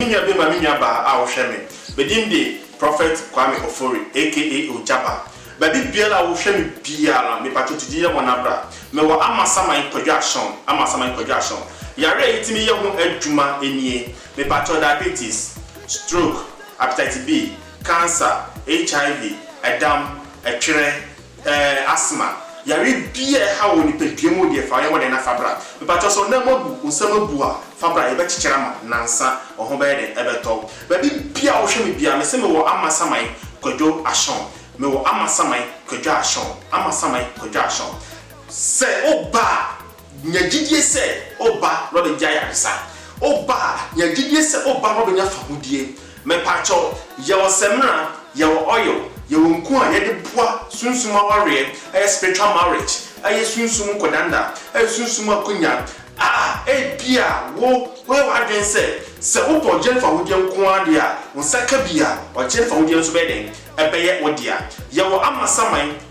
Me nua bi ma me nuabaa a ɔhwɛ me. Me din de Prophet Kwame Ofori aka Ogyaba. Baabi biara a wohwɛ me biara no, mepakyɛ tu di yɛ wɔn abra. Mewɔ amasaman kwadwaahyɛn, amasaman kwadwaahyɛn. Yare a yetumi yɛ ho adwuma nie, mepakyɛ diabetes, stroke, hepatitis B, cancer, HIV, ɛdam, ɛtwerɛ, Ɛɛ asthma yare bi a ɛhaw wɔ nipadua mu deɛ fa yɛ hɔ dɛn na fa bra. Mepakyɛw sɛ wo nan mu abu, wo nsam abu a fa bra yɛbɛkyekyere ama wo nansa wo ho bɛyɛ dɛn ɛbɛtɔ wo. Baabi biara a wohwɛ me biara mese mewɔ Amasaman Kwadwo Ashon mewɔ Amasaman Kwadwo Ashon Amasaman Kwadwo Ashon sɛ woba a. Nya gyidie sɛ woba na ɔbɛgye ayaresa. Woba a, nya gyidie sɛ woba na ɔbɛnya fahodie. Mepaakyɛw, yɛwɔ samina, yɛwɔ oil, yɛwɔ nku a yɛde boa sunsum awareɛ, ɛyɛ spiritual marriage, ɛyɛ sunsum nkɔdanda, ɛyɛ sunsum akonya a ebia wo woyɛ w'adwene sɛ, sɛ wopɛ ɔgyeɛ ne fahodie nko ara deɛ a, wo nsa ka bi a, ɔgyeɛ ne fahodie nso bɛyɛ dɛn? Ɛbɛyɛ wo dea. Yɛwɔ amasaman.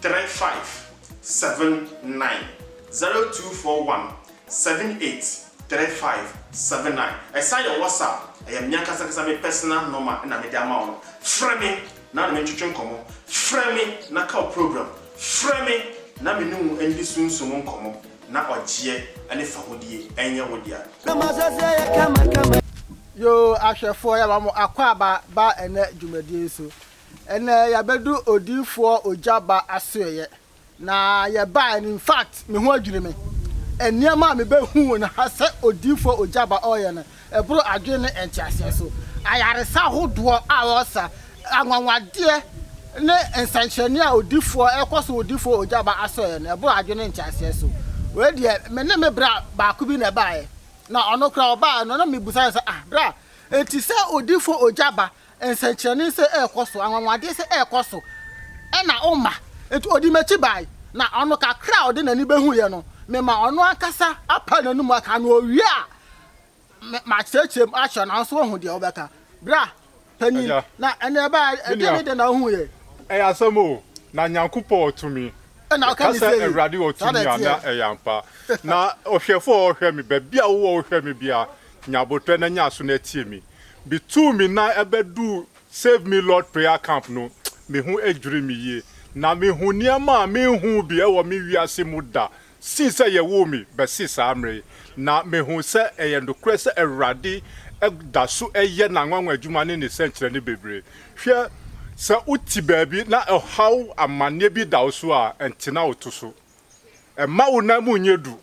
three five seven nine zero two four one seven eight three five seven nine ɛsan yɛ WhatsApp ɛyɛ me ankasa ankasa me personal nɔma na mede ama wo no frɛ me na ne me ntwetwe nkɔmmɔ frɛ me na ka wo program frɛ me na me ne wo ndi sunsum nkɔmmɔ na ɔgyeɛ ɛne fahodie ɛnyɛ wo dea. Yoo ahwɛfoɔ yɛma mo akwaaba ba ɛnɛ dwumadie yi so. Ɛnɛ yɛabedu odiyifoɔ Ogya Ba asoɛeɛ na yɛbaeɛ no infact me ho adwiri me. Nneɛma a mebɛhuu no ha sɛ odiyifoɔ Ogya Ba ɔreyɛ no ɛboro adwene ne nteaseɛ so. Ayaresa ahodoɔ a ɔresa, anwanwadeɛ ne nsɛnkyerɛnneɛ a odiyifoɔ ɛrekɔ so wɔ odiyifoɔ Ogya Ba asoɛeɛ no ɛboro adwene ne nteaseɛ so. Wei deɛ me ne me bra baako bi na ɛbaeɛ na ɔno koraa ɔbaeɛ no na mebisa no sɛ ah bra enti sɛ odiyifoɔ Ogya Ba Nsɛnkyerɛnne sɛ ɛrekɔ so, anwanwadeɛ sɛ ɛrekɔ so, ɛna woma. Enti ɔdii m'akyi bae, na ɔno kakra a ɔde n'ani bɛhuiɛ no, mema ɔno ankasa apae n'ano mu aka, na ɔwie a, makyerɛkyerɛ mu akyerɛ no, nanso wahu deɛ wobɛka. Bra, panin, na ɛnna ɛbae a, ɛdeɛn ne deɛn na wohuiɛ? Ɛyɛ asɛm o, na Nyankopɔn wɔ tumi. Ɛna ɔka ne se, Ka sɛ, Awurade wɔ tumi a, na ɛyɛ ampa. Na ɔhwɛfoɔ a ɔhwɛ me, baabi a wowɔ wohwɛ me biara, nya abotɔɛ na nya aso na tie me. Me tuu me nan bɛduu Save Me Lord Prayer Camp no, me ho dwirii me yie. Na me hu nneɛma a me nhuu bi wɔ me wiase mu da sii sɛ yɛ woo me bɛsi saa mmerɛ yi. Na me hu sɛ ɛyɛ nokorɛ sɛ Awurade da so yɛ N'anwanwa adwuma ne Ne sɛnkyerɛnne bebree. Hwɛ, sɛ wo te baabi na ɛhaw amanneɛ bi da wo so a, ntena wo to so. Mma wo nan mu nyɛ duru,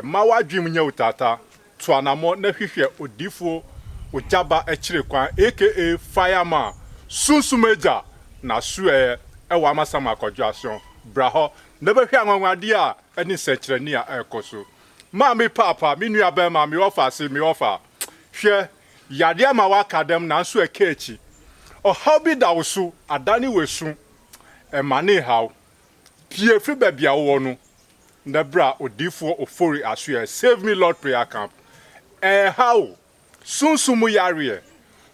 mma w'adwene mu nyɛ wo taataa, tu anammɔn na hwehwɛ odiyifoɔ Ogyaba akyire kwan aka Fireman, Sunsum Agya, n'asoɛeɛ ɛwɔ Amasaman Akwadwo Aso, bra hɔ na bɛhwɛ anwanwadeɛ a ɛne nsɛnkyerɛnne a ɛrekɔ so. Ma me paapa, me nua bɛɛma, me ɔfa ase, me ɔfa, hwɛ, yadeɛ ama w'aka dɛm nanso ɛka akyi, ɔhaw bi da wo so, adane w'asu, ɛmane nhaw, Pue firi baabi a wowɔ no na bra odiyifoɔ Ofori asoɛɛ Save Me Lord Prayer Camp. Ɛreha wo, sunsum mu yareɛ,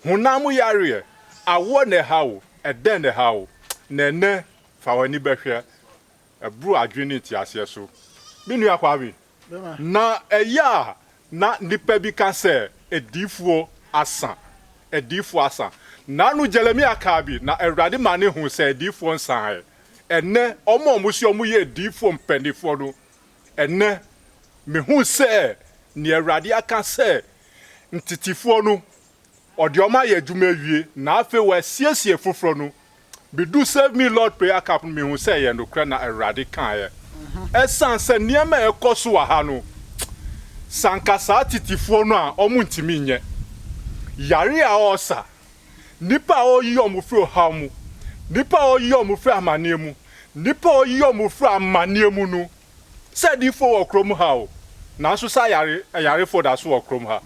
honam mu yareɛ, awoɔ na ɛha wo, ɛdɛn na ɛha wo? Na ɛnnɛ fa w'ani bɛhwɛ, ɛboro adwene ne nteaseɛ so. Me nua Kwame. Na ɛyɛ a na nnipa bi ka sɛ, Adiyifoɔ asa, adiyifoɔ asa. Naano Jeremia kaa bi, na Awurade maa no huu sɛ adiyifoɔ nsaeɛ. Ɛnnɛ, wɔn a wɔse wɔyɛ adiyifoɔ mpanimfoɔ no, ɛnnɛ, mehu sɛ deɛ Awurade aka sɛ ntetefoɔ no, ɔde wɔn ayɛ adwuma awie, na afei wɔasiesie foforɔ no, Midu Save Me Lord Prayer Camp no, mihu sɛ ɛyɛ nokorɛ na Awurade kaeɛ. Ɛsiane sɛ nneɛma a ɛrekɔ so wɔ ha no, sɛ anka saa tetefoɔ no a, wɔntumi nyɛ. Yare a wɔresa, nnipa a wɔreyi wɔn firi ɔhaw mu, nnipa a wɔreyi wɔn firi amanneɛ mu, nnipa a wɔreyi wɔn firi amanneɛ mu no, sɛ adiyifoɔ wɔ kurom ha o, nanso saa yare, ayarefoɔ da so wɔ kurom ha.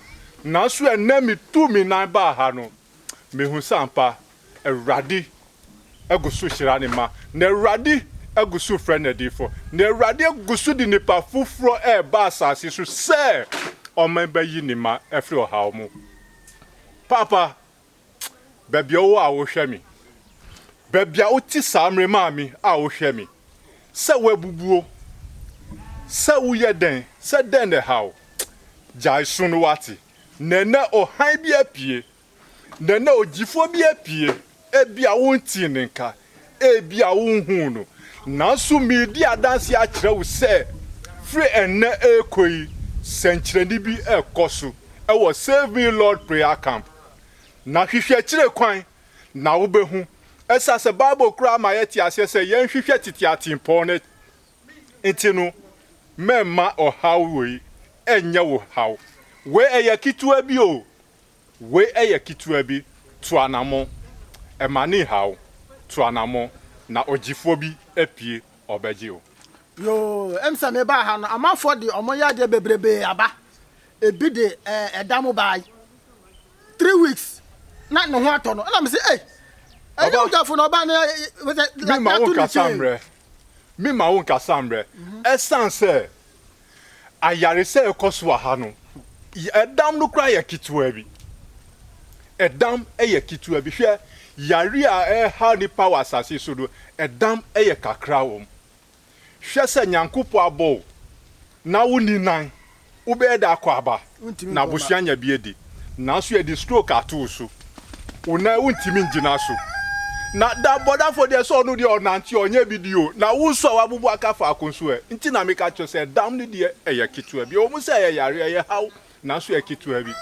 Nanso ɛnnɛ metuu me nan baa ha no, mehu sɛ ampa Awurade gu so hyira ne mma, na Awurade gu so frɛ n'adiyifo, na Awurade gu so de nnipa foforɔ reba asase so sɛ ɔman bɛyi ne mma afiri ɔhaw mu. Paapa, baabi a wowɔ a wohwɛ me, baabi a wote saa mmerɛ maame a wohwɛ me, sɛ woabubuo, sɛ woyɛ dɛn, sɛ dɛn na ɛhaw, gyae so no wate, na ɛnɛ ɔhan bi apue, na na ogyifoɔ bi apue. Ebia wontii ne nka, ebia wonhuu no, nanso meredi adanse akyerɛ wo sɛ firi ɛnnɛ rekɔ yi, sɛnkyerɛnne bi rekɔ so wɔ Save Me Lord Prayer Camp. Na hwehwɛ akyire kwan, na wobɛhu. Ɛsɛ sɛ Bible koraa ma yɛte aseɛ sɛ yɛnhwehwɛ tete atempɔn no. Nti no, mɛmma ɔhaw wei nyɛ wo haw. Wei ɛyɛ ketewa bi o, Wei yɛ ketewa bi, tu anammɔn, Ɛma ne nhaw wo, tu anammɔn, Na ɔgyefoɔ bi apue, ɔbɛgye wo. Yoo, ɛm sɛ me baa ha no amanfoɔ de ɔmo yadeɛ bebrebee aba ebi de ɛɛ ɛda mo baa yi three weeks na ne ho atɔ no ɛna me se ei ɛyɛ ɔgyafo na ɔbaa na me ma wo nkasa mmerɛ me ma wo nkasa mmerɛ ɛsan sɛ Ayaresa a ɛkɔ so wɔ ha no, ɛdam no koraa yɛ ketewa bi. Ɛdam yɛ ketewa bi. Hwɛ, yare a ɛrehaw nnipa wɔ asase so no, ɛdam yɛ kakra wɔ mu. Hwɛ sɛ Nyankopɔn abɔ wo na wonni nan, wobɛyɛ dɛ akɔ aba. na abusua nya bi adi. Nanso yɛde stroke ato wo so. Wo nan wontumi ngyina so. Na da bɔdafo deɛ sɛ ɔno deɛ ɔnante ɔnyɛ bi di o. Na wo nso a w'abubu aka faako nso ɛ? Nti na meka kyerɛ sɛ dam no deɛ ɛyɛ ketewa bi. Ɛwɔ mu sɛ ɛyɛ yareɛ, ɛyɛ haw, nanso ɛyɛ ketewa bi.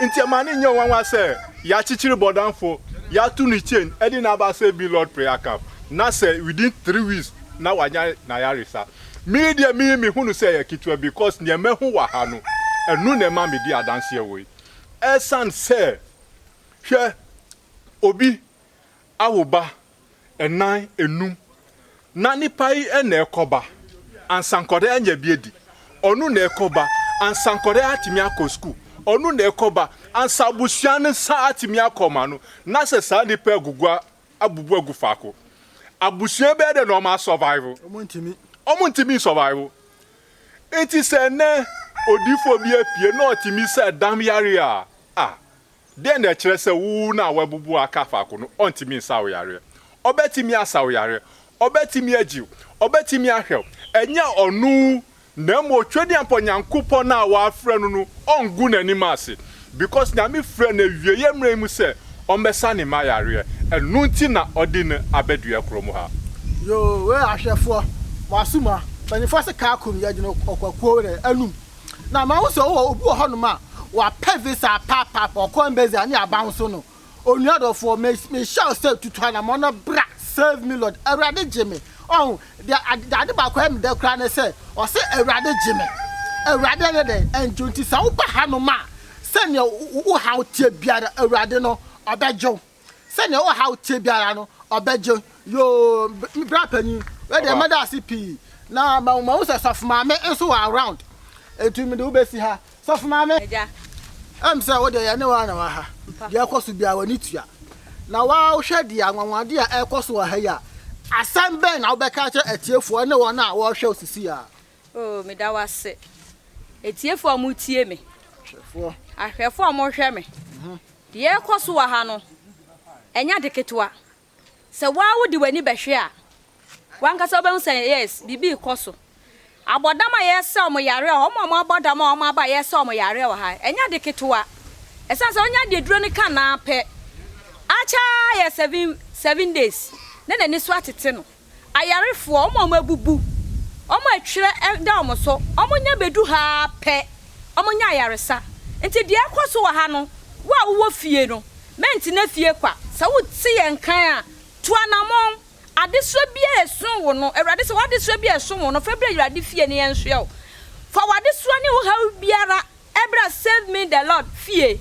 Nti ɛma no nyɛ nwanwa sɛ yɛakyekyere bɔdamfo, yɛato no chain de no aba sɛ billiard player camp, na sɛ within three weeks na wanya n'ayaresa. Me deɛ me me hunu sɛ ɛyɛ ketewa bi cos neɛ mahu wɔ ha no ɛno na ɛma me di adanseɛ wei ɛsan sɛ hwɛ obi awo ba ɛnan ɛnum na nipa yi ɛna ɛkɔ ba ansa nkɔda anya bi adi ɔno na ɛkɔ ba ansa nkɔda atumi akɔ school ɔno na ɛkɔ ba ansa abusua no nsa atumi akɔ ma no na sɛ saa nipa agugu abubu agu faako abusua bɛyɛ dɛ na ɔmo asɔvaivo ɔmo ntumi nsɔvaivo nti sɛ nɛ odifoɔ bi apue na ɔtumi sɛ dam yareɛ a a dɛn na ɛkyerɛ sɛ wo na wabubu aka faako no ɔntumi nsa wo yareɛ ɔbɛtumi asa wo yareɛ ɔbɛtumi agyiw ɔbɛtumi ahwɛw ɛnyɛ ɔno Na mmom Twedeampɔ Nyankopɔn a w'afrɛ no no ɔnngu n'anim ase because Nyame frɛ no awieɛ mmerɛ yi mu sɛ ɔmmɛsa ne mma yareɛ ɛno nti na ɔde no abɛdua kuro mu ha. Yoo wei ahwɛfoɔ mo asuma mpanyinfoɔ se car kum yɛ gyina ɔkwakuo werɛ anum na mahu sɛ ɔwɔ obi wɔ hɔnom a wapɛ visa paapap ɔkɔ embassy a ne abaw nso no Onua dɔfoɔ, me, mehyɛ wo sɛ tutu anamɔn na bra, save me Lord, Awurade gye me. Ɔho, deɛ ade, deɛ ade baako a ɛyɛ me dɛ koraa ne sɛ, ɔse Awurade gye me. Awurade ɛyɛ dɛn? Ɛngye wo. Nti sɛ wo ba hanom a, sɛdeɛ wo, wo haw teɛ biara, Awurade no, Ɔbɛgye wo. Sɛdeɛ wo haw teɛ biara no, Ɔbɛgye wo. Yoo, br, me bra panin, wei deɛ Ɔba. mɛda ase pii. Na ma, mahu sɛ Sɔfo Maame nso wɔ around. Nti mede wo bɛsi ha. Sɔfo maame. Agya. Ɛm sɛ wo deɛ yɛne wo ara na wɔ ha. Deɛ ɛkɔ so biara w'ani tua. Na wo ara wo hwɛ deɛ anwanwadeɛ a ɛrekɔ so wɔ ha yi a, asɛm bɛn na wobɛka akyerɛ atiefoɔ ne wɔn a wɔrehwɛ wo sisi ara? Oo, meda wo ase. Atiefoɔ a moretie me. Ahwɛfoɔ. Ahwɛfoɔ a mohwɛ me. Deɛ ɛrekɔ so wɔ ha no, ɛnyɛ ade ketewa. Sɛ wo ara wode w'ani bɛhwɛ a, w'ankasa wobɛhu sɛ yes, biribi rekɔ so. Abɔdam a yɛresa wɔn yareɛ wɔ ha, wɔn a wɔabɔ dam a wɔaba a yɛresa wɔn yareɛ wɔ ha, ɛnyɛ ade ketewa. Ɛsiane sɛ ɔnya deɛ aduro no ka no ara pɛ, akyɛ ara yɛ seven, seven days na n'ani so atete no. Ayarefoɔ, wɔn a wɔabubu, wɔn a ɛtwerɛ da wɔn so, wɔnya bɛdu ha ara pɛ, wɔnya ayaresa. Nti deɛ ɛrekɔ so wɔ ha no, wo a wowɔ fie no, mɛntena fie kwa. Sɛ wote yɛn nkan a, tu anammɔn. Adesoa biara a ɛso wo no, Awurade se, w'adesoa biara a ɛso wo no, fa brɛ Awurade fie, na yɛnsoɛ wo. Fa w'adesoa ne wo haw biara Bra Save Me The Lord fie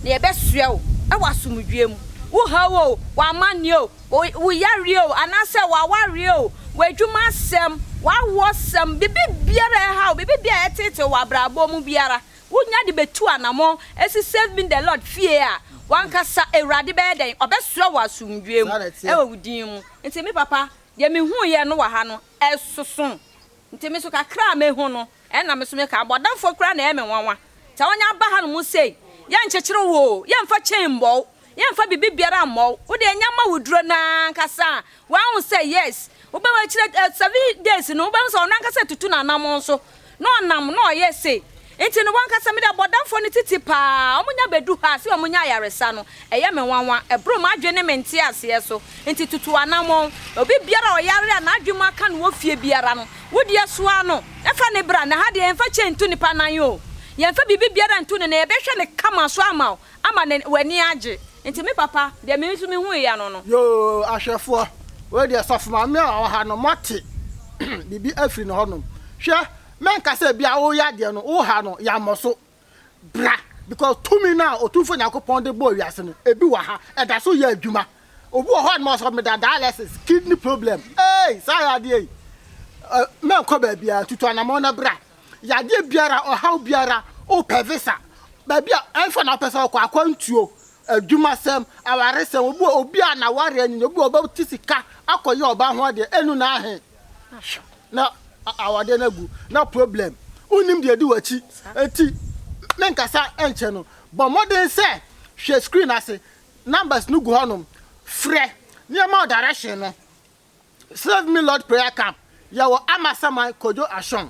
na yɛbɛsoɛ wo wɔ asomdwoeɛ mu. Wo haw o, w'amanneɛ o, wo wo yareɛ o, anaasɛ w'awareɛ o, w'adwuma asɛm, w'awoɔsɛm, biribiara a ɛha wo, biribiara a ɛteetee wo wɔ abrabɔ mu biara, wonya de bɛtu anammɔn asi Save Me The Lord fie a, w'ankasa Awurade bɛyɛ dɛn? Ɔbɛsoɛ wo wɔ asomdwoeɛ mu wɔ wo din mu. Nti me papa, deɛ mehuuiɛ no wɔ ha no, ɛsoso nti me so kakra a mɛhu no ɛna me so me ka abɔdamfoɔ koraa na ɛyɛ me nwanwa sɛ wɔn aba ha no mo sei yɛ nkyekyere wo oo yɛ nfa chain mmɔ wo yɛ nfa bibi biara mmɔ wo wo deɛ nyɛ ma wo duro no ara ankasa a wahu sɛ yes wo bɛ wɔ akyire seven days no wo bɛ hu sɛ ɔno ankasa tutu n'anamɔn so na ɔnam na ɔyɛ sei. Nti no wankasa mede abɔdamfoɔ no titi paa a ɔmo nya bɛdu ha a sɛ ɔmo nya ayaresa no ɛyɛ me nwanwa, ɛboro m'adwene ne me nteaseɛ so. Nti tutu anammɔn. Obi biara a ɔyare a n'adwene mu aka no wɔ fie biara no, wo deɛ soa no na fa no bra na ha deɛ yɛmfa chain nto nipa nan oo, yɛmfa biribi biara nto no na yɛbɛhwɛ no kama so ama wo. Ama n'ani, w'ani agye. Nti me papa, deɛ me nso mehu eya no no. Yoo, ahwɛfoɔ, wei deɛ sɔfo maame a ɔwɔ ha no, moate biribi afiri ne hɔnom. Hwɛ, mɛnka sɛ bia woreyɛ adeɛ no, wo ha no, yɛammɔ so. Bra, because tumi no a Otumfoɔ Nyankopɔn de bɔɔ wiase no, ebi wɔ ha, ɛda so yɛ adwuma. Obi wɔ hɔnom a ɔsɛ meda dialysis, kidney problem. Eei, saa yɛ adeɛ yi. Ɛ, mɛnkɔ baabiara, tutu anamɔn na bra. Yadeɛ biara, ɔhaw biara, wopɛ visa, baabi a ɛmfa na wopɛ sɛ wokɔ, akwantuo, adwumasɛm, awaresɛm, obi wɔ obi a n'awareɛ anwini, obi wɔ ɔbɛte sika akɔyɛ ɔbaa ho adeɛ, ɛnu na ahe? na awadeɛ no agu, na problem, wonim deɛ ɛdi w'akyi, enti menkasa nkyɛ no, bɔ mmɔden sɛ hwɛ screen ase, numbers no gu hɔnom, frɛ, nneɛma direction no, Save me Lord prayer camp yɛwɔ Amasaman Kojo Ashong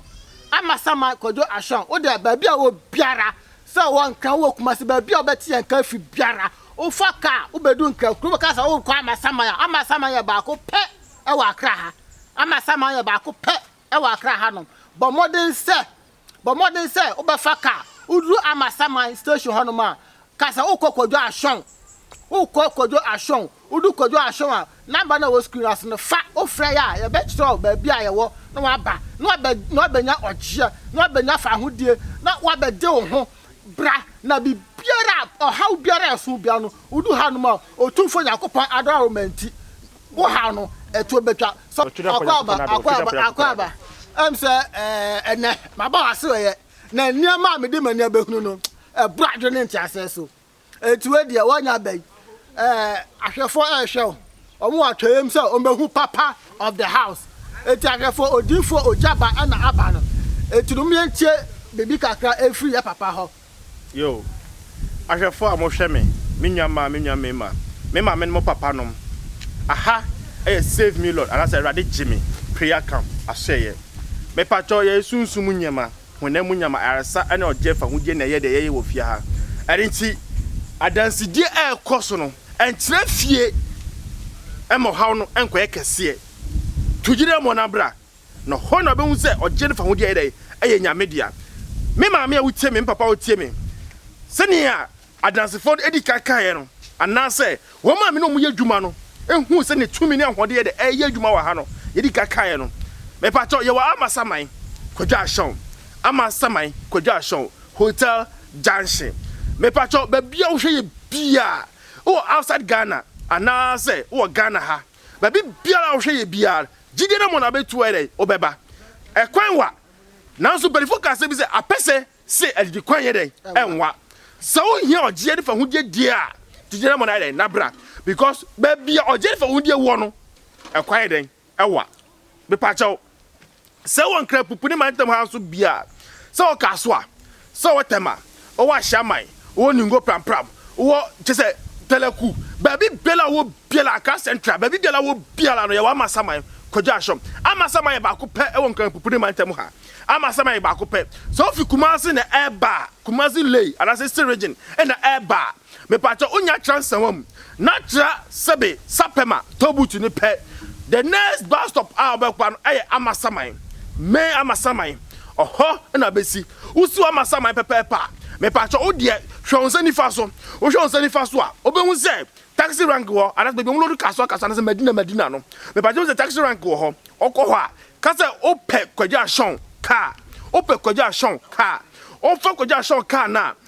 Amasaman Kojo Ashong wo deɛ baabi a wɔ biara sɛ wɔ Nkran wo wɔ Kumasi baabi a wobɛte yɛn nka fi biara wofa kaa wobɛdu Nkran kuro bɛka sɛ wokɔ Amasaman a Amasaman yɛ baako pɛ ɛwɔ Accra ha Amasaman yɛ baako pɛ ɛwɔ Accra hanom bɔ mmɔden sɛ Bɔ mmɔden sɛ wobɛfa kar. Woduru Amasaman station hɔnom a, ka sɛ worekɔ Kojo Ashong. Worekɔ Kojo Ashong. Wodu Kojo Ashong a, namba no a ɛwɔ screen no ase no, fa. Wofrɛ yɛ a, yɛbɛkyerɛ wo baabi a yɛwɔ na woaba, na woabɛ, na woabɛnya ɔgyeɛ, na woabɛnya fawohodie, na woabɛgye wo ho. Bra, na biribiara a, ɔhaw biara a ɛso biara no, wodu hanom a, Otumfoɔ Nyankopɔn adɔe a woma nti, Wo haw no ɛtuo bɛtwa sɛ akwaaba akwaaba akwaaba ɛm sɛ ɛnɛ maba wase ɔyɛ na nneɛma a mede m'ani abɛhunu no ɛboro adwene nteaseɛ so ɛnti wei deɛ wɔanya aba yi ahwɛfoɔ ɛrehwɛ wo wɔn wɔ atwɛyam sɛ wɔbɛhu papa of the house ɛnti ahwɛfoɔ odiifoɔ ogya ba ɛna aba no ɛnti nom yɛntie biribi kakra ɛfiri yɛ papa hɔ Yoh. Ahwɛfo a mohwɛ me, me nuammaa, me nuammarima, me maame ne mo papanom, aha yɛ Save Me Lord anaasɛ Awurade Gye Me Prayer Camp asoɛeɛ. Mepakyɛw, yɛyɛ sunsum mu nneɛma, honam mu nneɛma, ayaresa ne ɔgyeɛ fahodie na ɛyɛ deɛ yɛyɛ wɔ fie ha. Ɛno nti, adansedie a ɛrekɔ so no, ɛntena fie mma ɔhaw no nkɔyɛ kɛseɛ. To gyina mmɔ na bra. na hɔ na ɔbɛhu sɛ ɔgyeɛ no fahodie ayɛ dɛn? Ɛyɛ Nyame dea. Me maame a wotie me, me papa a wotie me, sɛnea adansefoɔ no ɛdi kan kaeɛ no, anaasɛ wɔn a me ne wɔn yɛ adwuma no huu sɛnea tumi ne ahoɔden yɛ dɛn ɛreyɛ adwuma wɔ ha no, yɛdi kan kaeɛ no, Mepakyɛw, yɛwɔ Amasaman, Kwadwo Ashon, Amasaman, Kwadwo Ashon, Hotel Junction. Mepakyɛw, baabi a wohwɛ yɛ biara, wowɔ outside Ghana, anaasɛ wowɔ Ghana ha, Baabi biara a ɔhwɛ yɛ biara no, gyidie no mu na bɛtu ayɛ dɛn? Ɔbɛba. Ɛkwan wa. Nanso mpaninfoɔ ka asɛm bi sɛ, apɛsɛ se adidikwan yɛ dɛn? Ɛnwa. Sɛ wohia ɔgyeɛ ne fahodie die a, gyidie no mu no ayɛ dɛn? Nabra. Because baabi a ɔgyeɛ ne fahodie wɔ no, ɛkwan yɛ dɛn? Ɛwa. Mepa kyɛw, Sɛ wɔ Nkrapupu ne Mantam ha nso bi a, sɛ wɔ Kasoa, sɛ wɔ Tema, wɔ Ahyiaman, wɔ Ningo Prampram, wɔ kyɛ sɛ Tɛlɛku, baabi biara wɔ biara, Accra Central, baabi biara wɔ biara no, yɛwɔ Amasaman, Kwadwo Ashom. Amasaman yɛ baako pɛ wɔ Nkrapupu ne Mantam ha. Amasaman yɛ baako pɛ. Sɛ wofi Kumasi na ɛreba a, Kumasi Lay anaasɛ Eastern Region na ɛreba a, Mepakyɛ wo nya tra nsawa mu na tra sɛbe sapɛma tollbooth no pɛ the next bus stop a wobɛkpa no ɛyɛ amasaman main amasaman ɔhɔ na bɛsi wosi wɔ amasaman pɛpɛɛpɛ a mepakyɛ wo deɛ hwɛ wo nsa nifa so wohwɛ wo nsa nifa so a wobɛhu sɛ taxi rank wɔ anasɛ baabi ɔmo load cars wɔ cars anasɛ madina madina no mepakyɛ wo sɛ taxi rank wɔ hɔ ɔkɔ hɔ a kasɛ wopɛ kwagya ashon car wopɛ kwagya ashon car wofa kwagya ashon car no a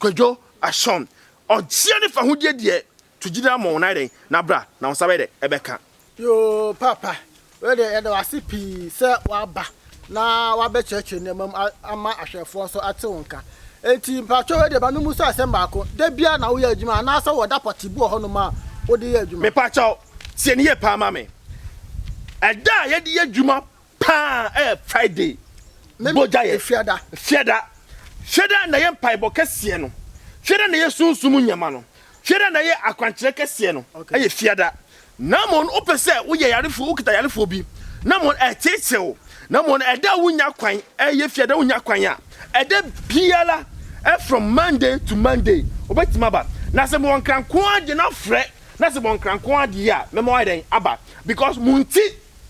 Kwadwo Ashon, Ɔgyeɛ ne fahodie deɛ to gyina ama wɔn ayɛ dɛn na bra na wo nsa bɛyɛ dɛn ɛbɛka. Yoo Paapa, wei deɛ yɛda wo ase pii sɛ woaba na woabɛkyerɛkyerɛ nneɛma mu ama ahwɛfoɔ nso ate wo nka. Enti mpakyɛw wei deɛ ma me mmusa asɛm baako, da biara na woyɛ adwuma anaasɛ wɔ da pɔtee bi wɔ hɔnom a wode yɛ adwuma? Mepakyɛw, tie no yie paa ma me. Ɛda a yɛde yɛ adwuma Paa ɛyɛ Friday bogya yɛ fiada fiada fiada na ɛyɛ mpaebɔ kɛseɛ no fiada na ɛyɛ sunsum nneɛma no fiada na ɛyɛ akwankyerɛ kɛseɛ no ɛyɛ fiada na mmom no wopɛ sɛ woyɛ yarefoɔ wokita yarefoɔ bi na mmom no ɛkyekyere wo na mmom no ɛda a wonya kwan ɛyɛ fiada wonya kwan a ɛda biara from Monday to Monday wobɛtumi aba na sɛ mewɔ nkranko agye na frɛ na sɛ mewɔ nkranko agye a mɛma wayɛ dɛn aba because mo nti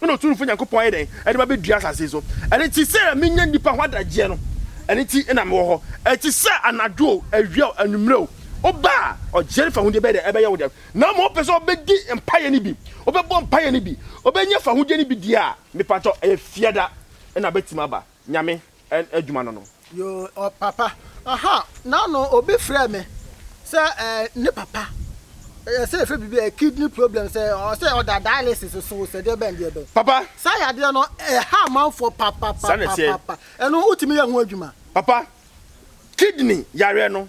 Ɛna Otumfo Nyankopɔn ayɛ dɛn? Ɛde ba bɛdua asase yi so. Ɛno nti, sɛdeɛ menya nnipa ho adagyeɛ no, ɛno nti na mewɔ hɔ. Ɛte sɛ anadwo o, awia o, anwummerɛ o, woba a, ɔgyeɛ no fahodie bɛyɛ dɛn? Ɛbɛyɛ wo dɛ. Na mmom wopɛ sɛ wobɛdi mpaeɛ no bi, wobɛbɔ mpaeɛ no bi, wobɛnya fahodie no bi deɛ a, mepa kyɛw, ɛyɛ Fiada na abɛtim aba. Nyame adwuma no no. Yoo papa aha nano obi frɛ me sɛ ɛɛ ne papa ɛyɛ sɛ efɛ bibi ɛyɛ kidney problem sɛ ɔsɛ ɔda dialysis so sɛ deɛ bɛn deɛ bɛn papa saa yadeɛ no ɛha amanfoɔ papapapapa ɛno wotumi yɛ ho adwuma papa kidney yareɛ no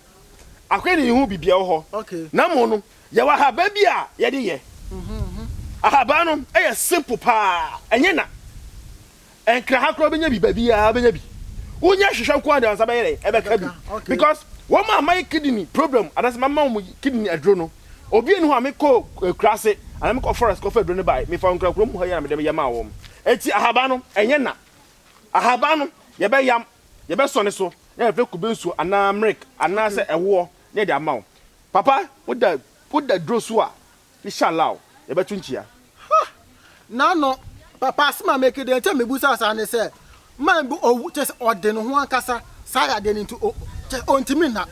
akɔyɛ ne ho bibia wɔ hɔ okay na mo no yɛwɔ ahaban bi a yɛde yɛ mhm, mhm. ahaban no ɛyɛ simple paa ɛnyɛ na Ɛnkra ha koraa wobɛnya bi baabi a wobɛnya bi wonya hwehwɛ nko a deɛ ansa bɛyɛ dɛ ɛbɛka bi because wɔn a mayɛ kidney problem anaasɛ mama wɔn kidney aduro no obi enu hɔ a mekɔ eh, kura ase anaa mekɔ forest kɔfa aduro no bae mefa nkura kurom hɔ yɛ na mede yɛ maa wɔn eti ahaban no ɛnyɛ na ahaban no yɛbɛyam yɛbɛsɔ ne so na yɛfrɛ kube nsuo anaa milk anaasɛ ɛwoɔ na yɛde ama wo papa woda woda duro so a Inshallah yɛbɛto nkyia. Hah Nano papa asem a meke deɛ nkyɛ mebusa saa ne sɛ man bi owu kyɛ sɛ ɔde ne ho ankasa saa yadeɛ no nti o kyɛ sɛ ɔntumi nna.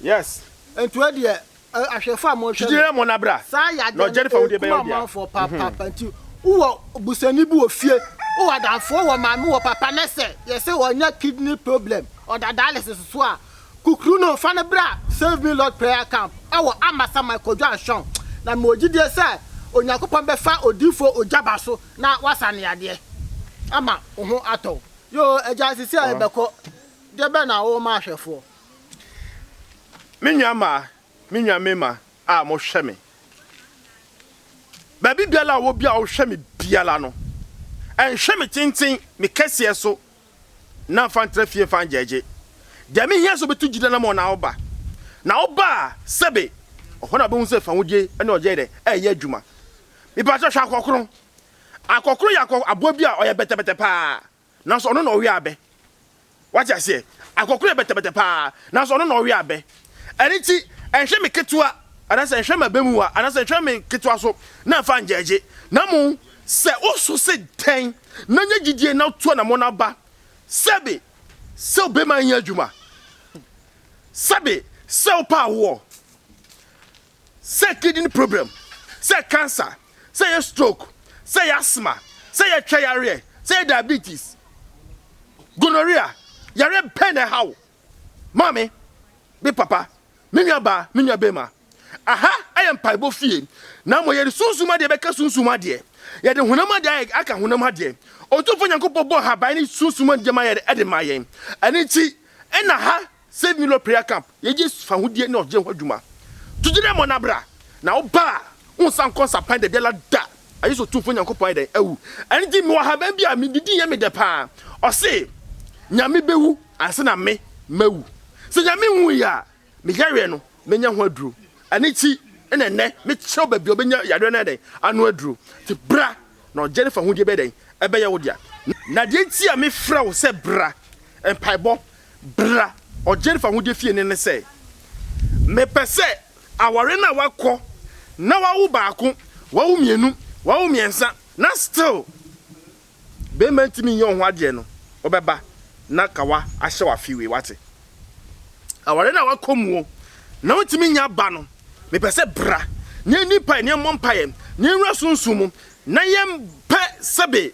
Yes. Ntoɛ deɛ ahwɛfoɔ a mohwɛ no saa yadeɛ no ɛkum amanfoɔ papaapa nti wowɔ busuani bi wɔ fie wowɔ adamfoɔ wɔ maame wɔ papa nɛsɛ yɛsɛ ɔnya kidney problem ɔda dialysis so a Kukru no fa no bra Save Me Lord Prayer Camp wɔ Ambassa Mai Kwadwo Anhweaw na mewɔ gyidie sɛ Onyankopɔn bɛfa Odiyifoɔ Ogyaba so na wasa neadeɛ ama wo ho atɔ wo. Yoo agya sisi a yɛbɛkɔ deɛ bɛn na wo ma ahwɛfoɔ. Me nua maa me nua mema a mo hwɛ me baabi biala a ɔwɔ bia ɔhwɛ me biala no ɛnhwɛ me tenten me kɛseɛ so na mfa ntra fie mfa ngyaagye. Deɛ mehia sɛ wobɛtu gyidie anamɔn na woba. Na woba a, sɛbe, hɔ na wobɛhu sɛ fahodie ne ɔgyeɛ yɛ dɛ? Ɛɛyɛ adwuma. Mepakyɛ, hwɛ akɔkoro. Akɔkoro yɛ akɔ aboa bi a ɔyɛ bɛtɛbɛtɛ paa, nanso ɔno na ɔwe abɛ. Wate aseɛ? Akɔkoro yɛ bɛtɛbɛtɛ paa, nanso ɔno na ɔwe abɛ. Ɛno nti, nhwɛ me ketewa, anaasɛ nhwɛ m'abamuwa, anaasɛ nhwɛ me ketewa so na mfa ngyɛɛgye, na mmom sɛ woso se dɛn, na nya gyidie na to anamɔ no aba, sɛbe sɛ wobɛma anya adwuma, sɛbe sɛ wopɛ awoɔ, sɛ kidney problem, sɛ cancer, sɛ ɛyɛ stroke, sɛ ɛyɛ asthma, sɛ ɛyɛ twɛ yareɛ, sɛ ɛyɛ diabetes, gonorrhea, yareɛ bɛn na ɛha wo? Maame, me papa, me nuabaa, me nuabarima. Aha yɛ mpaebɔ fie, na mmom yɛde sunsum adeɛ bɛka sunsum adeɛ, yɛde honam adeɛ aka honam adeɛ. Otumfoɔ Nyankopɔn bɔɔ haban ne sunsum nneɛma yɛde de maa yɛn. Ɛno nti na ha Save Me Lord Prayer Camp yɛyɛ fahodie ne ɔgyeɛ ho adwuma. To gyina mmɔ na bra, na wo ba a, wonsan nkɔ nsapan dabiara da. Agye sɛ Otumfoɔ Nyankopɔn ayɛ dɛn? Awu. Ɛno nti mewɔ ahaban bi a mede di yɛ me dɛ paa. Ɔse, Nyame bɛwu ansa na me mawu. Sɛ Nyame nwuui a, me yareɛ no mɛnya ho aduro. Ɛno nti na ɛnnɛ mekyerɛ wo baabi a wobɛnya yareɛ no ayɛ dɛn? Ano aduro. Nti bra na ɔgyeɛ no fahodie bɛyɛ dɛn? Ɛbɛyɛ wo dea. Na deɛ nti a mefrɛ wo sɛ bra, mpaebɔ, bra ɔgyeɛ no fahodie fie no ne sɛ, mepɛ sɛ Aware no a wakɔ na wawo baako, wawo mmienu, wawo mmiɛnsa na still barima ntumi nyɛ wo ho adeɛ no, wobɛba na kawa ahyɛ wo afe wei, wate? Aware no a wakɔ mu o, na wontumi nya ba no, mepɛ sɛ bra na yɛnni mpaeɛ, na yɛmmɔ mpaeɛ, na yɛnwura sunsum mu, na yɛmpɛ sɛbe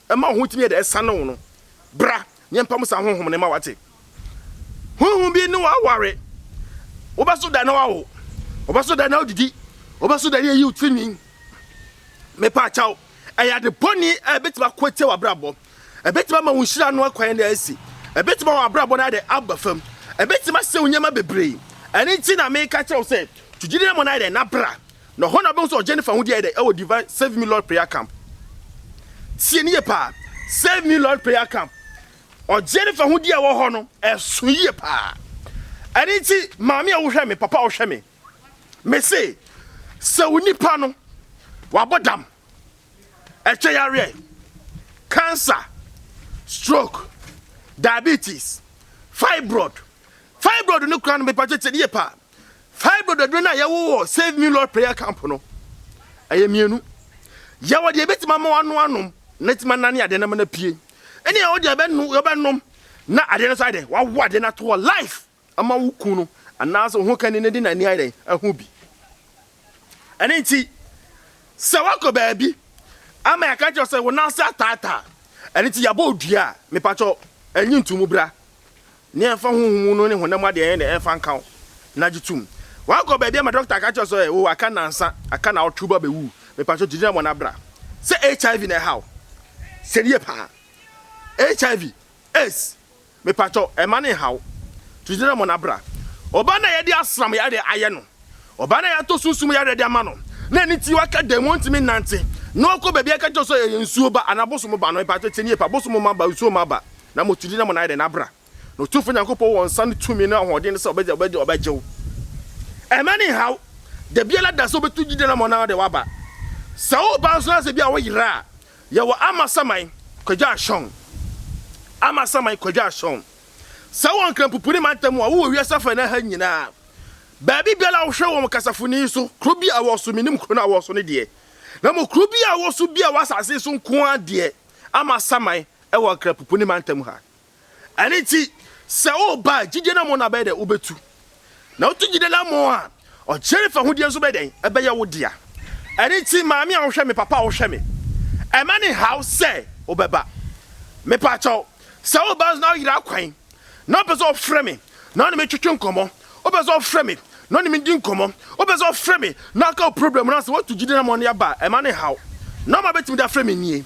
Ɛma wo ho tumi yɛ dɛ ɛsane wo no. Bra na yɛmpam saa honhom no mma wate. Honhom bi ne wo aware. Wobɛso da na wawo. Wobɛso da na wodidi. Wobɛso da na yɛyi wo tirinwi. Mepa kyɛw, ɛyɛ ade bɔne a ɛbɛtumi ako atia w'abrabɔ. Ɛbɛtumi ama wo nhyira ano akwan no asi. Ɛbɛtumi ama w'abrabɔ no ayɛ dɛ aba fam. Ɛbɛtumi asɛe wo nneɛma bebree. Ɛno nti na meka kyerɛ wo sɛ, tu gyidi na mmɔ no ayɛ dɛ na bra. Na hɔ na wobɛhu sɛ Jennifer ho deɛ ayɛ dɛ ɛwɔ Divine Save Me Lord Prayer Camp. Tie ne yie paa. Save Me Lord Prayer Camp. Ɔjennifer ho deɛ a ɛwɔ hɔ no, ɛso yie paa. Ɛno nti, maame a wohwɛ me, papa a wohwɛ me, mese, sɛ wo nipa no, wabɔ dam, ɛtwɛ yareɛ, cancer, stroke, diabetes, fibroid, fibroid no koraa no, mepa kyɛ tie ne yie paa. Five dododwe no a yɛwɔ wɔ Save Me Lord Prayer Camp no, ɛyɛ mmienu. Yɛwɔ deɛ ɛbɛtumi ama wano anom na ɛtumi anane adeɛ no ama no apue. Ɛne yɛwɔ deɛ yɛbɛnom na adeɛ no nso ayɛ dɛ wawo adeɛ no ato hɔ life ama wo kun no anaasɛ wo ho kani no de n'ani ayɛ dɛn ahu bi. Ɛno nti, sɛ woakɔ baabi ama yɛaka kyerɛ wo sɛ wo nan ase ataataa a, ɛno nti yɛabɔ wo dua a, mepa kyɛw, nyi nto mu bra, na yɛmfa honhom mu no ne honam mu adeɛ yɛn mfa nka wo, na gye tom. Woakɔ baabi ama dɔkta aka kyerɛ wo sɛ oh, aka nnansa, aka nnawɔtwe wo ba bɛwu, mepa kyɛw, gye gyina mu na bra. Sɛ HIV na ɛha wo, sɛ no yie paa. HIV, AIDS, Mepakyɛw, mma no nnhaw. To gyina mu na bra. Ɔbaa no a yɛde asram yare ayɛ no, ɔbaa no a yɛatɔ sunsum yare de ama no, na ɛno nti waka dan mu, ontumi nnante, na ɔkɔ baabi a yɛka kyerɛ no sɛ ɛyɛ nsuo ba anaa bosom ba no, mepakyɛw tie no yie pa, bosom mma ba, nsuo mma ba, na mmom to gyina mu na yɛ dɛn? Na bra. Na Otumfoɔ Nyankopɔn wɔ nsa ne tumi ne ahoɔden sɛ ɔbɛgye, ɔbɛgye, ɔbɛgye wo. Mma no nnhaw. Da biara da sɛ wobɛto gyina mu na wode wo aba. Sɛ woreba nso na sɛ ebia woyera a, Yɛwɔ Amasaman Kwagya Ashong, Amasaman Kwagya Ashong. Sɛ wowɔ Nkrampopuni mantam mu a, wowɔ wiase afanan ha nyinaa. Baabi biara a wohwɛ wɔ kasafoni yi so, kuro bi a ɛwɔ so, mennim kuro no a wowɔ so no deɛ, na mmom kuro bi a wowɔ so biara wɔ asase yi so nko ara deɛ, Amasaman wɔ Nkrampopuni mantam ha. Ɛno nti, sɛ woreba a, gyidie no amo no abɛyɛ dɛ wobɛtu. Na wotu gyidie no amo a, ɔkyena fahodie nso bɛyɛ dɛn? Ɛbɛyɛ wo dea. Ɛno nti, maame a wohwɛ me, papa a wohwɛ me, ɛmma no nhaw sɛ wobɛba. Mepa kyɛw, sɛ woreba nso na woyera akwan, na wopɛ sɛ wɔfrɛ me na wo ne me twetwe nkɔmmɔ, wopɛ sɛ wɔfrɛ me na wo ne me di nkɔmmɔ, wopɛ sɛ wɔfrɛ me na woka wo problem no asɛm, woatu gyidie no amo no aba a, ɛmma no nhaw. Nɔma a wobɛtumi de afrɛ me nie.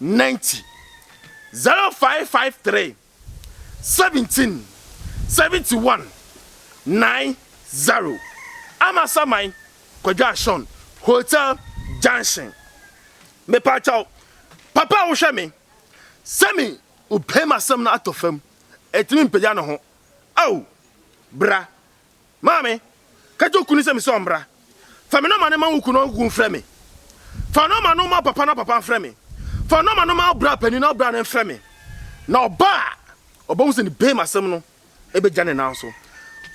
Ninety, zero five five three, seventeen, seventy one, nine zero, Amasaman Kwadwoasean Hotel junction. Mepakyɛw papa a wohwɛ me sɛ me wopɛ mu asɛm no atɔ fam ɛtumi mpagya ne ho ao bra Maame, ka kyerɛ wo kunu sɛ mise ɔmmra. Fa me nɔma no ma wo kunu na ɔnkogu mfrɛ me. Fa nɔma no ma wo papa na wo papa mfrɛ me. Fa nɔma no ma wo bra panin na wo bra no mfrɛ me. Na ɔba a, ɔbɛhu sɛ ne bem asɛm no bɛgya ne nan so.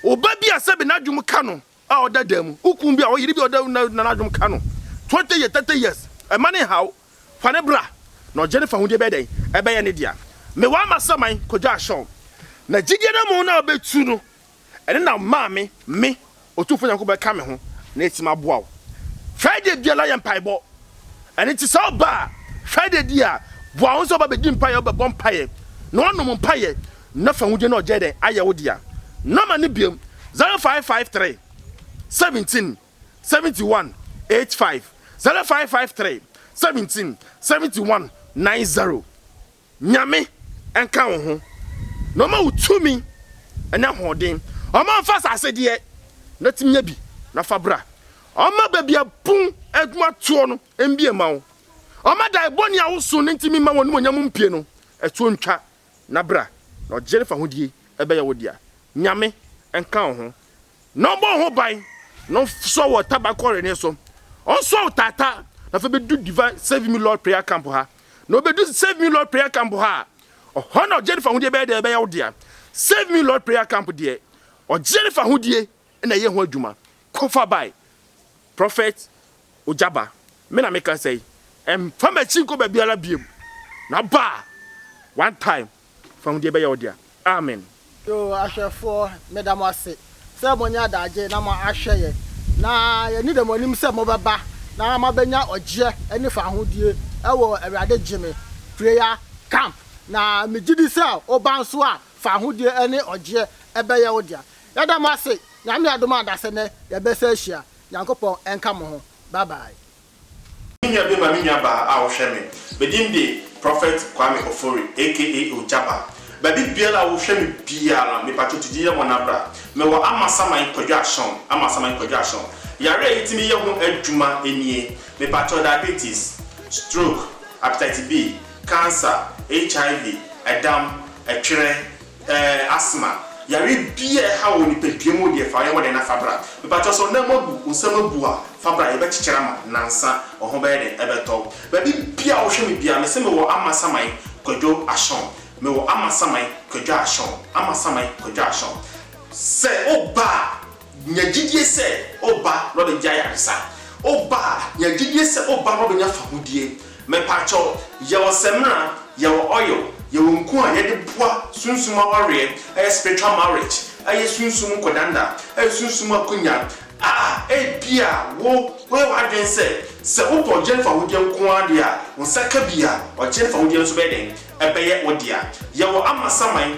Wo ba bi a sɛbe n'adwom ka no a ɔda dan mu, wo kunu bi a ɔyere bi a ɔda na n'adwom ka no, twenty years, thirty years, mma no nnhaw wo. Fa no bra, na ɔgye no fahodie bɛyɛ dɛn? Ɛbɛyɛ ne dea. Mewaa m'asaman kɔgyaa Shawn. Na gyidie no mu na ɔbɛtu no Ɛno na maa me, me, Otumfoɔ Nyankopɔn bɛka me ho na atim aboa wo. Friday biara yɛ mpaebɔ. Ɛno nti sɛ ɔba a, Friday di a, boa ho sɛ ɔba bɛdi mpaeɛ, ɔbɛbɔ mpaeɛ, na wanom mpaeɛ, na fa ahudeɛ no a ɔgyae dɛn ayɛ wo dea. Nɔma no biom, 0553 17 71 85, 0553 17 71 90. Nyame nka wo ho na ɔma wo tumi ne ahoɔden. Ɔma nfa asase deɛ na tumi nya bi na fa bra. Ɔma baabi a pon adwuma toɔ no mbie ma wo. Ɔma dae bɔne a wo so ne ntumi mma w'animuonyam mpue no ɛtoɔ ntwa na bra. Na ɔgyeɛ ne fahodie ɛbɛyɛ wo dea. Nyame nka wo ho. na ɔmmɔ ho ban, na ɔnsɔ wɔ taban kɔre no so, ɔnsɔ wɔ tata, na afei bɛdu Divine Save Me Lord Prayer Camp ha, na ɔbɛdu Save Me Lord Prayer Camp ha a, ɔhɔ na Jennifer ho deɛ bɛyɛ deɛ ɛbɛyɛ wo dea. Save Me Lord Prayer Camp deɛ, Jennifer ho die na ɛyɛ ho adwuma. Kɔfa bae. Prophet. Ogya ba, me na mekasa yi, mfa m'akyi nkɔ baabiara biom, na ba a, one time, fa hu deɛ ɛbɛyɛ wo dea. Amen. Yoo ahwɛfoɔ meda mo ase sɛ moanya adagye na mo ahwɛ yɛn na yɛni dɛ mo anim sɛ mo bɛba na mo abɛnya ɔgyeɛ ɛne fahodie ɛwɔ awurade gyeme prayer camp na me gyidi sɛ wo ba nso a fahodie ɛne ɔgyeɛ ɛbɛyɛ wo dea yɛda mo ase nyame adom a dasɛ nɛ yɛbɛsɛ ahyia Nyankopɔn nka mo ho bye bye. Me nua be ma me nua baa a wohwɛ me. Me din de Prophet Kwame Ofori aka Ogyaba. Baabi biara a wohwɛ me biara mepatwo tu gyiyɛ mɔna bra. Mewɔ Amasaman Kwadwo Ashon, Amasaman Kwadwo Ashon. Yare a yetumi yɛ ho adwuma nie, mepatwo diabetes, stroke, hepatitis B, cancer, HIV, ɛdam, ɛtwerɛ, Ɛɛ asthma yare bi a ɛhaw wɔ nipadua mu deɛ fa yɛ hɔ dɛn na fa bra. Mepakyɛw sɛ wo nan mu abu, wo nsam abu a fa bra yɛbɛkyekyere ama wo nansa wo ho bɛyɛ dɛn ɛbɛtɔ wo. Baabi biara a wohwɛ me biara mese mewɔ Amasaman Kwadwo Ashon mewɔ Amasaman Kwadwo Ashon Amasaman Kwadwo Ashon sɛ woba a. Nya gyidie sɛ woba na ɔbɛgya ayaresa. Woba a, nya gyidie sɛ woba na ɔbɛnya fahodie. Mepaakyɛw, yɛwɔ samina, yɛwɔ oil, yɛwɔ nku a yɛde boa sunsum awareɛ, ɛyɛ spiritual marriage, ɛyɛ sunsum nkɔdanda, ɛyɛ sunsum akonya a ebia wo woyɛ w'adwene sɛ, sɛ wopɛ ɔgyeɛ ne fahodie nko ara deɛ a, wo nsa ka bi a, ɔgyeɛ ne fahodie no nso bɛyɛ dɛn? Ɛbɛyɛ wo dea. Yɛwɔ amasaman,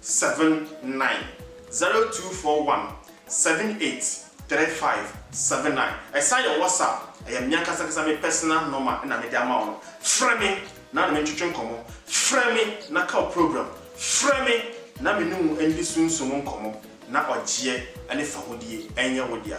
seven nine zero two four one seven eight three five seven nine ɛsan yɛ WhatsApp ɛyɛ me ankasa ankasa me personal nɔma na mede ama wo no frɛ me na ne me ntwetwe nkɔmmɔ frɛ me na ka wo program frɛ me na me ne wo ndi sunsum nkɔmmɔ na ɔgyeɛ ne fahodie ɛnyɛ wo dea.